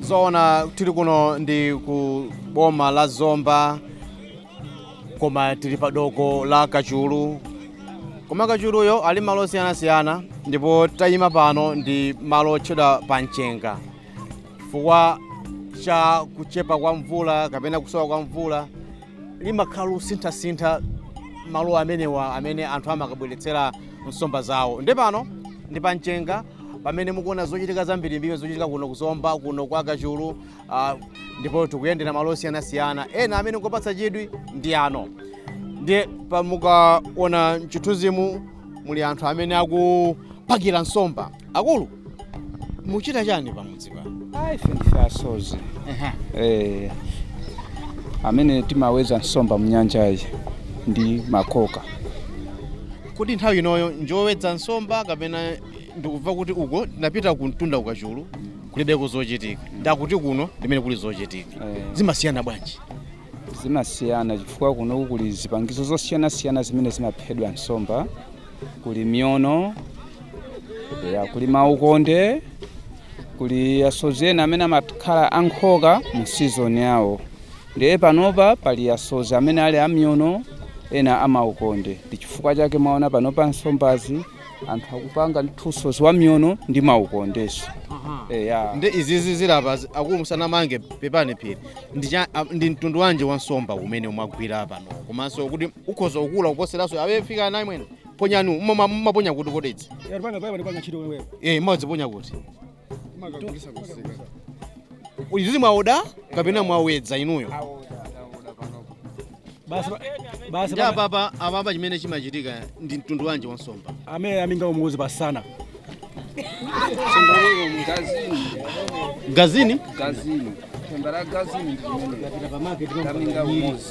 zoona tili kuno ndi ku boma la zomba koma tili pa doko la kachulu koma kachuluyo ali m'malo osiyanasiyana ndipo tayima pano ndi malo otchedwa pa mchenga chifukwa cha kuchepa kwa mvula kapena kusowa kwa mvula limakhala losinthasintha malo amenewa amene anthu amakabweretsera nsomba zawo ndi pano ndi pa mchenga pamene mukuona zochitika zambirimbiri zochitika kuno kuzomba kuno kwa kachulu ah, ndipo tikuyendera malo osiyanasiyana ena amene ngopatsa chidwi ndi ano ndiye pamukaona mchithunzimu muli anthu amene akupakira nsomba akulu muchita chani pamudzi pano ayi ndife asozi eh, amene timaweza nsomba mnyanjayi ndi makoka kodi nthawi inoyo njowedza nsomba kapena ndikuva kuti uko ndinapita kumtunda kukachulu kulibeko zochitika ndakuti kuno ndimene kuli zochitika zimasiyana bwanji zimasiyana chifukwa kunoku kuli zipangizo zosiyanasiyana zimene zimaphedwa nsomba kuli miono ya kuli maukonde kuli asodzi ena amene amakhala amakoka mu sizoni yawo ndiye panopa pali asodzi amene ali amiono ena amaukonde ndi chifukwa chake mwaona panopa nsombazi anthu akupanga ndithunso zamiono ndi maukondeso eya ndi izizi zilapa zi- akulu musanamange pepani phiri ndi cha- a- ndi mtundu wanji wa nsomba umene umagwidwa pano komanso kuti ukhoza kukula kuposeranso awe fika naye mwene ponyani mmaponya kuti kodetsi Yari panga panga panga chiro wewe. eh mmadziponya kuti izizi mwaoda kapena mwawedza inuyo basi pa- basi ndi pa- apapa apapa chimene chimachitika ndi mtundu wanji wa nsomba amene aminga umuuzi pasana gazini gazini themba la gazini ndiamenga umuzi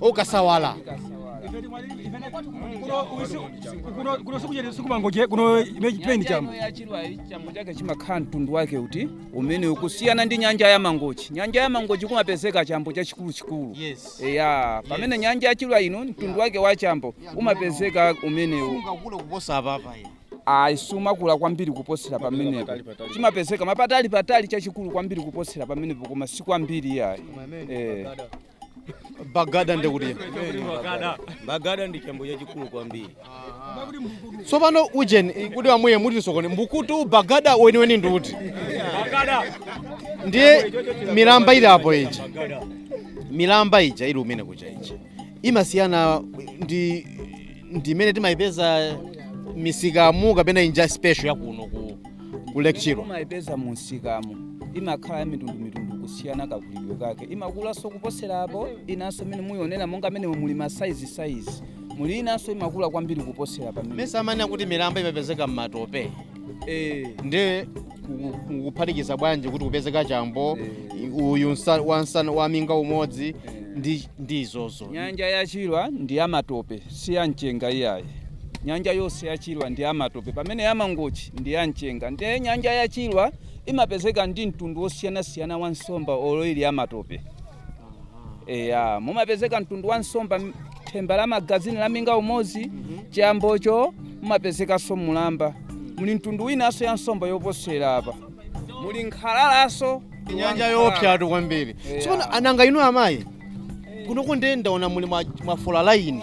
ukasawala kuno sikuchete sikumangoje kuno ime chipeni chamo chambo chake chimakhala mtundu wake uti umene ukusiyana ndi nyanja ya mangochi nyanja ya mangochi kumapezeka chambo chachikuluchikulu Yes. eya pamene nyanja ya chilwa ino mtundu wake wa chambo umapezeka umenewu ungakule kuposa apapa ine ayi simakula kwambiri kuposera pamenepo chimapezeka mapatali patali chachikulu kwambiri kuposera pamenepo koma si kwambiri yayi eh. bagada ndekuti bagada ndi chambo chachikulu kwambiri tsopano ujeni eh, kuti amwye mutionetse mbukutu bagada weniweni ndi uti ndiye milamba ili apo ija milamba ija ili umene kucha ija imasiyana ndi ndi imene timayipeza misikamu kapena nyanja special ya kuno ku, ku lake chilwa umayipeza mu msikamu imakhala ya mitundu mitundu kusiyana kakulidwe kake imakulanso kuposera apo inanso imene muonera monga amene muli masaizi saizi muli inanso imakula kwambiri kuposera pamene mesa amanena kuti milamba imapezeka m'matope eh ndi kuphatikiza bwanji kuti kupezeka chambo uyu nsa- wa nsana wa minga umodzi ndi ndi izozo nyanja ya chilwa ndi ya matope si ya mchenga iyayi nyanja yonse ya chilwa ndi ya matope pamene ya mangochi ndi ya mchenga ndiye nyanja ya chilwa imapezeka ndi mtundu wosiyanasiyana wa nsomba olo ili ya matope Eya, mumapezeka mtundu wa nsomba matemba la magazini la minga umodzi chambocho mumapezekanso mulamba muli mtundu winanso ya nsomba yoposera apa muli nkhalalanso nyanja yoopsatu kwambiri tsono nanga inu amayi kuno kundenda ndaona muli mwa- mwafola laini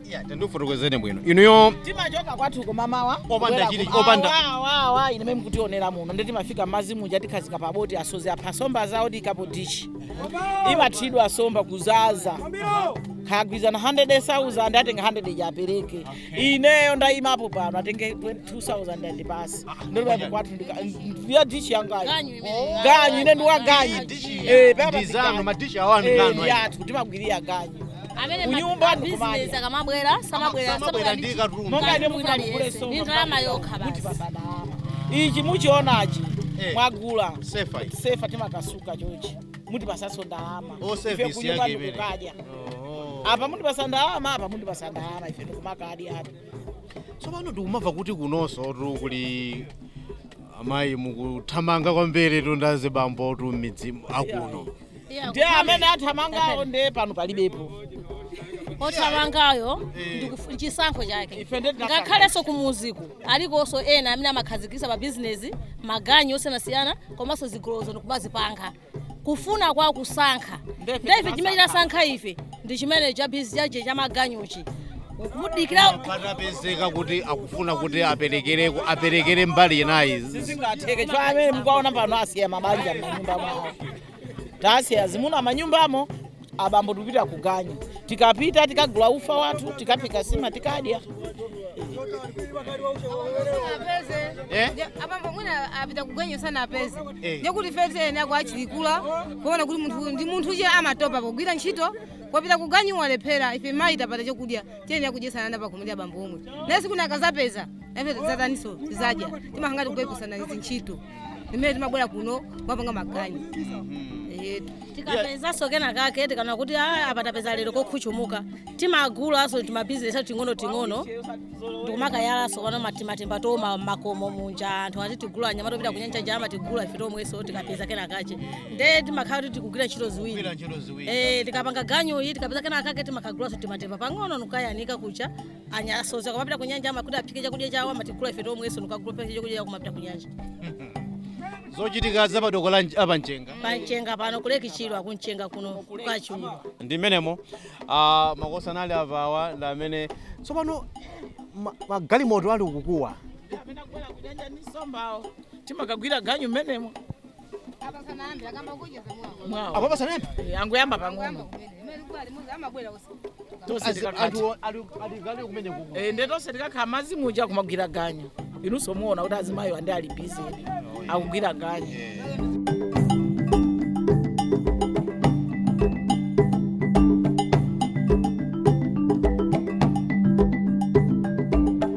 Yeah, tandifotokozeni bwino inuyo timachoka kwathu kum'mamawa Opanda chili- opanda- wawa ine mmene mukutionera muno ndi timafika m'madzi muja tikhazika pa boti asodzi apha somba zawo tiikapo dishi imathiridwa somba kuzaza akagwirizana 100,000 atenga 100 apereke ineyo ndayimapo pano atenge 20,000 andipatse ndotipati kwathu ndika- ya dishi yangayo ganyu ine ndiwaganyu Eh, papa ndizano siganyu. madishi anu Eh, ndi athu timagwirira ganyu amene ma- Kunyumba a ndi business kumadya. akamabwera samabwera Samabwera ndi katundu. Monga ine mukufuna mugule somba, ndi ndalama yokha basi ichi mukuchionachi Eh. mwagula Sefa iyi. sefa timakasuka chochi mutipasaso ndalama Oh, Ife service kunyumba yake imene. ndikukadya Oh. apa mundipasa ndalama apa mundipasa ndalama ife ndikumakadya apa tsopano ndikumamva kuti kunonsotu kuli Amayi mukuthamanga kwambiri kuposa azibambotu m'midzi akuno. ndiye amene athamangawo nde pano palibepo othamangayo ndikufu- chisankho chake Ife ndiye tinasala. ngakhalenso kumuziku alikonso ena amene amakhazikisa pa bizinesi maganyu osiyanasiyana komanso zigolozo ndikumazipanga kufuna kwa kusankha ndiye ife chimene tasankha ife ndi chimene chabizi chache cha maganyochi kumudikira patapezeka kuti akufuna kuti aperekere aperekere mbali inayi sizingatheke chifukwa amene mukuwaona pano asiya mabanja m'manyumba mwawo tasiya azimuna manyumbamo abambo tikupita kuganyu tikapita tikagula ufa wathu tikaphika sima tikadya Eh? abambo mwina apita kuganyu sanapeze Eh. ndekuti tiyenera kuwachilikira kuona kuti munthu ndi munthu amatopa pogwira ntchito wapita kuganyu walephera ife amayi tapata chokudya tiyenera kudyesana nawo pakhomo ndi abambo omwe naye tsiku lina akazapeza nafe tidzatani so tizadya timakhala ngati kupepusana zintchito imene timabwera kuno kumapanga maganyu Eh, tikapezanso kena kake timati kuti "Ah, apa tapeza lero kokhuchumuka timagulanso timabizinesi athu ting'ono ting'ono ndikumakayalanso kaya matimatimba tomwe makomo munja anthu atitigula nyama topita kunyanja amatigula ife tomwenso tikapeza kena kache nde timakhala kuti tikugwira ntchito ziwiri Kugwira ntchito ziwiri. Eh, tikapanga ganyu iyi tikapeza kena kake timakagulanso timatimba pang'ono nkuyanika kucha asodzi akamapita ku nyanja amakuti aphike chakudya chawo amatigula ife tomwenso ndikukaphika chakudya chawo kumapita ku nyanja zochitika za padoko la pamchenga panchenga pano kulekitsidwa kunchenga kuno kukachulwa ndi mmenemo ah, makosi anali apawa ndi amene tsopano ma- magalimoto ali kukowa amene akubwera kunyanja ndi nsombawo timakagwira ganyu mmenemo apa pasanayambe Eh, angoyamba pang'ono tonse tikakhala anthu ali- aliyense kumene kuko Eh, nde tonse tikakhala azimayi muja kumagwira ganyu inunso muona kuti azimayo andi ali busy akugwira ganyu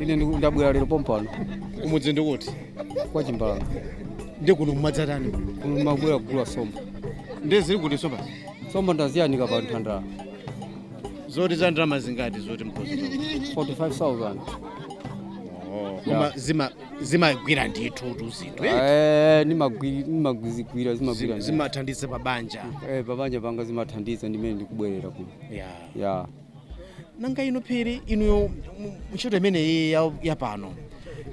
ine ndiku- ndabwera lero pompano kumudzi ndikuti kwa chimbalanga ndi kuno mumadzatani kuno mabwera kugula nsomba ndiye zili kuti nsomba nsomba ndaziyanika pa nthandala zoti ndalama zingati zoti mkozi 45000 koma zima zimagwira ndithu tuzinthu eh? Eh, nimagwi- nimagwizigwira zimagwira Zim- zimathandiza pa banja Eh, pabanja panga zimathandiza ndimene ndikubwerera kuno yeah. ya nanga inu phiri inuyo mu- ntchito imeneyi ya- ya pano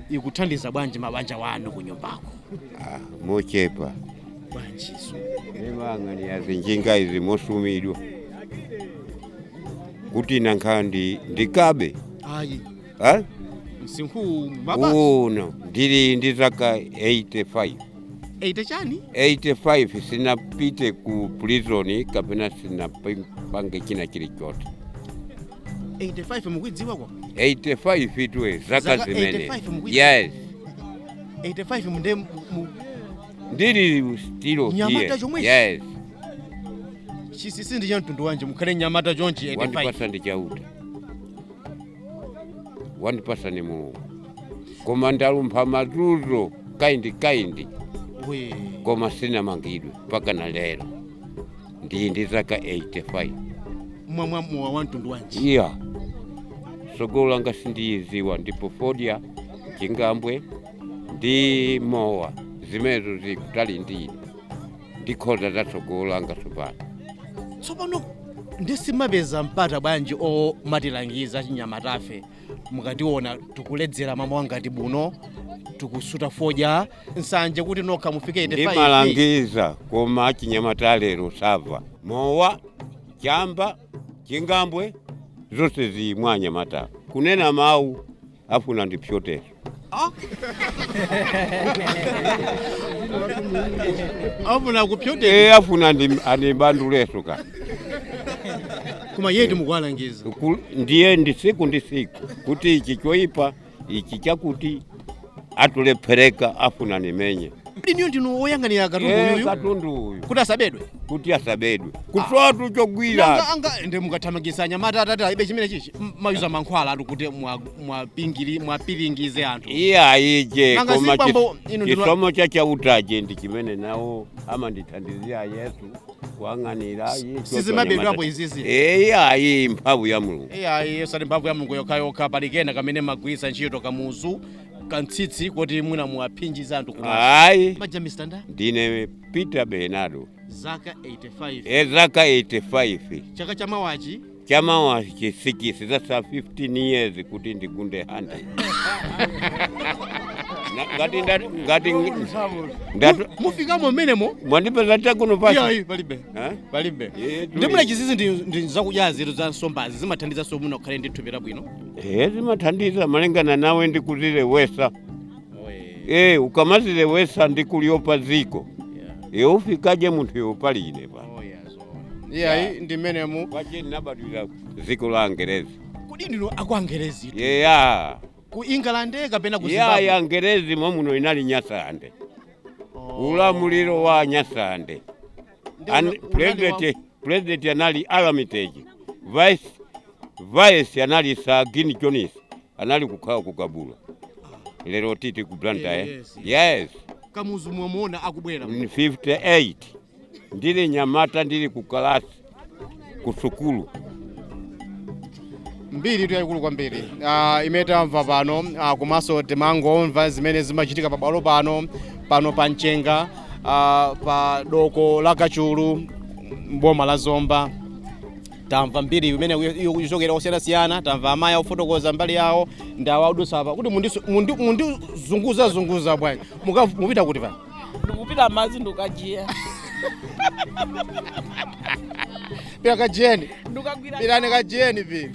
ikuthandiza bwanji m'mabanja mwanu ku nyumbako Ah, mochepa bwanji nemang'ani yazinjinga izi mosumidwa kuti ndakhala ndi ndikabe ayi eh? msinkhu baba uno ndili ndi zaka 85 eyite chani 85 sinapite ku prison kapena sinapange china chilichonse 85 mukuidziwa kwa 85 itwe zaka Zaka zimene 85 mukuidziwa? yes 85 mundi mu- mu- ndili stilo Nyamata here. chomwechi? yes chinsinsi ndi cha mtundu wanji mukhale nyamata chonchi 85 wandipatsa ndi chauta wandipatsa ni mulungu koma ndalumpha mazunzo kaindi kaindi koma sinamangidwe mpaka na lero ndili ndi zaka 85 mwamwa mowa wa mtundu wanji iya tsogolo langa sindiliziwa ndipo fodya chingambwe ndi mowa zimenezo zili kutali ndine ndikhoza zatsogolo anga tsopano tsopano ndisimapeza mpata bwanji omatilangiza achinyamatafe mukationa tikuledzera mmamawa ngati buno tikusuta fodya nsanje kuti nokha mufike 85 ndimalangiza koma achinyamata alero samva mowa chamba chingambwe zonse akumwa anyamata kunena mawu afuna ndipyote afuna kupyote e afuna ndi- andibanduleso ka kumayetu mukuwalangiza Ku- ndiye ndi siku ndi siku kuti ichi choipa ichi chakuti atulephereka afuna andimenye ineyo ndinu oyang'anira Eh, katunduyu katundu uyu kuti asabedwe kuti asabedwe kusowa tu chogwira Nanga- anga- ndi mukathamangisa anyamata atati aibe chimene chichi m- mumayuza mankhwalatu kuti mwa- mwapingiri muwaphinjize anthu iyayije Nanga koma zibambo, chis- inu ndinu- chisomo cha chautaje ndi chimene nawo amandithandiza yesu kuyang'anira sizimabedwapo izizi iyayi mphamvu ya mulungu iyayi yesu mphamvu ya mulungu yokhayokha pali kena kamene mumagwiritsa ntchito kamuzu kamtsitsi kuti mwina muwaphinjize anthu kuti ayi maja mistanda ndine peter bernardo zaka 85 e zaka 85 chaka cha mawachi chamawa 86 that's a 15 years kuti ndigunde handede Na- ngati nda- ngati ndatu- mufikamo mmenemo mwandipeza takuno pasi iyayi palibe Eh? palibe Eh, chili. ndi mmene izizi ndi ndi zakudya zinthu za nsombazi zimathandiza kuti munthu akhale ndi thupi labwino Eh, zimathandiza malingana nawe ndi kudziletsa eh, ukamadziletsa ndi kuliopa dziko eh, ufikaje munthu yopalile pa iyayi ndi mmenemu achimwene ndabadwira dziko la angerezi kodi ndinu aku angerezi yeya ku england kapena ku yaya zimbabwe angerezi mommuno inali nyasande ulamuliro wa nyasande Ndi An- ula- ulali president wa- president anali armitage vice vice anali sir glyn jones anali kukhala ku kabula lero tikuti ku blantyre Yes, yes kamuzu mwamuona akubwera mu 58 Ndili mnyamata ndili ku kalasi ku sukulu. mbiri iyitu yayikulu kwambiri uh, imene tamva pano uh, komanso timangomva zimene zimachitika pabwalo pano pano pa mchenga uh, pa doko la kachulu mboma la zomba tamva mbiri imene ikuchokera kosiyanasiyana tamva amayi akufotokoza mbali yawo ndi awa adusa apa kuti mukundizunguzazunguza bwanji Muka- mupita kuti pano ndikupita madzi ndikajiya kajiyeni pi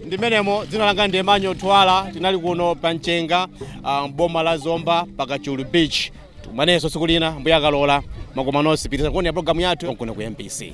ndimenemo dzina langa ndi Emmanuel Thuwala tinali kuno pa mchenga ah, mboma la zomba pa kachulu beach tikumanenso tsiku lina ambuye akalola tikumanenso pitilizani kuonera programu yathu kuno ku mbc